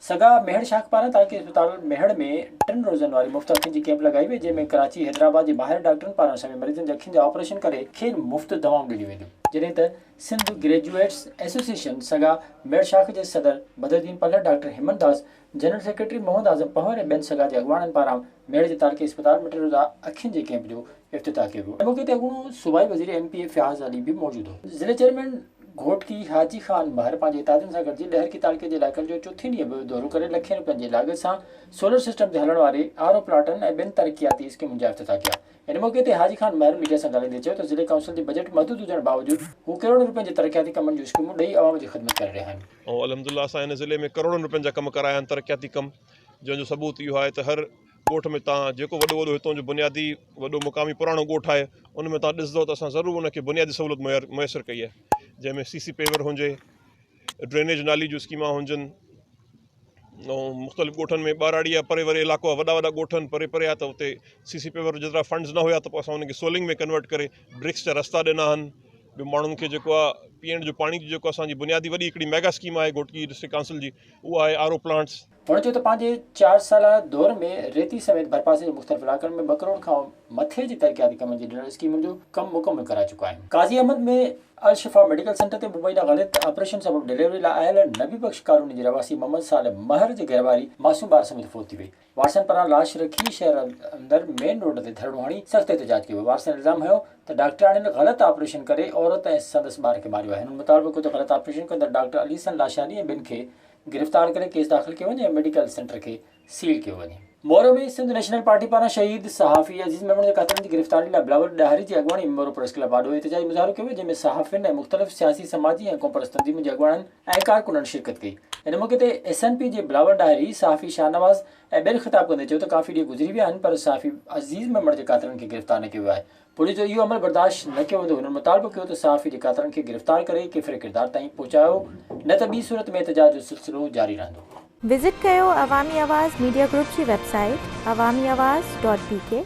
سگا ميهڙ شاخ پاران تعلقي اسپتال ميهڙ ۾ ٽن روزن واري مفت اکين جي ڪيمپ لڳائي وئي جنهن ۾ ڪراچي حيدرآباد جي ماهر ڊاڪٽرن پاران سوين مريضن جي اکين جا آپريشن ڪري کين مفت دوائون ڏنيون وينديون. جڏهن ته سنڌ گريجوئيٽس ايسوسيئيشن سگا ميهڙ شاخ جي صدر بدرالدين پلهه ڊاڪٽر هيمن داس جنرل سيڪريٽري محمد اعظم پنهور ۽ ٻين سگا جي اڳواڻن پاران ميڙ جي تارڪي اسپتال ۾ ٽيو ڏا اکين جي ڪيمپ جو افتتاح ڪيو ويو. ان موقعي تي اڳوڻو صوبائي وزير M P A Fayaz Ali به موجود هو. ضلعي چيئرمين گهوٽڪي حاجي خان مهر پنهنجي اتحادين سان گڏجي ڏهرڪي تارڪي جي علائقن جو چوٿين ڏينهن به دورو ڪري لکين روپين جي لاڳت سان سولر سسٽم تي هلڻ واري آر او پلانٽن ۽ ٻين ترقياتي اسڪيمن جا افتتاح ڪيا. ان موقعي تي حاجي خان مهر ميڊيا سان ڳالهائيندي چيو ته ضلعي ڪائونسل جي بجيٽ محدود هجڻ باوجود هو ڪروڙن روپين جي ترقياتي ڪمن جون اسڪيمون ڏئي عوام جي خدمت ڪري رهيا آهن. ۽ الحمدالله اسان هن ضلعي ۾ ڪروڙن روپين جا ڪم ڪرايا آهن ترقياتي ڪم جنهن جو ثبوت اهو آهي ته هر ڳوٺ ۾ تان جيڪو وڏو وڏو هتون جو بنيادي وڏو مقامي پراڻو ڳوٺ آهي ان ۾ تان ڏسندو ته اسان ضرور ان کي بنيادي سهولت مهير ميسر ڪئي آهي جنهن ۾ سي سي پيور هجي ڊرينيج نالي جون اسڪيمان هجن ۽ مختلف ڳوٺن ۾ ٻهراڙي يا پري وري علائقو آهي وڏا وڏا ڳوٺ آهن پري پري آهي ته اتي سي سي پيور جيترا فنڊز نه هيا ته پوء اسان ان کي سولنگ ۾ ڪنورٽ ڪري برڪس جا رستا ڏنا آهن ٻيو ماڻهن کي جيڪو آهي پيئڻ جو پاڻي جي جيڪو اسان جي بنيادي وڏي هڪڙي ميگا اسڪيم آهي گهوٽڪي ڊسٽرڪٽ ڪائونسل جي اهو آهي آر او پلانٽس. هن چيو ته پنهنجي چار سالا دور ۾ ريتي سميت ڀرپاسي جي مختلف علائقن ۾ ٻه ڪروڙ کان مٿي جي ترقياتي ڪمن جي ڏنل اسڪيمن جو ڪم مڪمل ڪرائي چڪا آهن قاضي احمد ۾ الشفا ميڊيڪل سينٽر تي مبينا غلط آپريشن سبب ڊليوري لاء آيل نبي بخش ڪالوني جي رهواسي محمد صالح مهر جي گهرواري معصوم ٻار سميت فوت ٿي وئي، وارثن پران لاش رکي شهر اندر مين روڊ تي ڌرڻو هڻي سخت احتجاج ڪيو ويو، وارثن الزام هنيو ته ڊاڪٽرياڻين غلط آپريشن ڪري عورت ۽ سندس ٻار کي ماريو آهي، هنن مطالبو ڪيو ته غلط آپريشن ڪندڙ ڊاڪٽر علي حسن لاشاري ۽ ٻين کي گرفتار ڪري ڪيس داخل ڪيو وڃي ۽ ميڊيڪل سينٽر کي سيل ڪيو وڃي. مورو ۾ سنڌ نيشنل پارٽي پاران شهيد صحافي عزيز ميمڻ جي قاتلن جي گرفتاري لاء بلاول ڏاهري جي اڳواڻي ۾ مورو پريس ڪلب آڏو احتجاجي مظاهرو ڪيو ويو جنهن ۾ صحافين ۽ مختلف سياسي سماجي ۽ قومپرست تنظيمن جي اڳواڻن ۽ ڪارڪنن شرڪت ڪئي ان موقعي تي ايس اين پي جي بلاول ڏاهري صحافي شاهنواز ۽ ٻين خطاب ڪندي چيو ته ڪافي ڏينهن گذري ويا آهن پر صحافي عزيز ميمڻ جي قاتلن کي گرفتار نه ڪيو ويو آهي پوليس جو اهو عمل برداشت نه ڪيو ويندو هنن مطالبو ڪيو ته صحافي جي قاتلن کي گرفتار ڪري ڪيفر ڪردار تائين پهچايو نه ته ٻي صورت ۾ احتجاج جو سلسلو جاري رهندو. وزٽ ڪيو عوامي آواز ميڊيا گروپ جي website Awami Awaz dot P ڪي.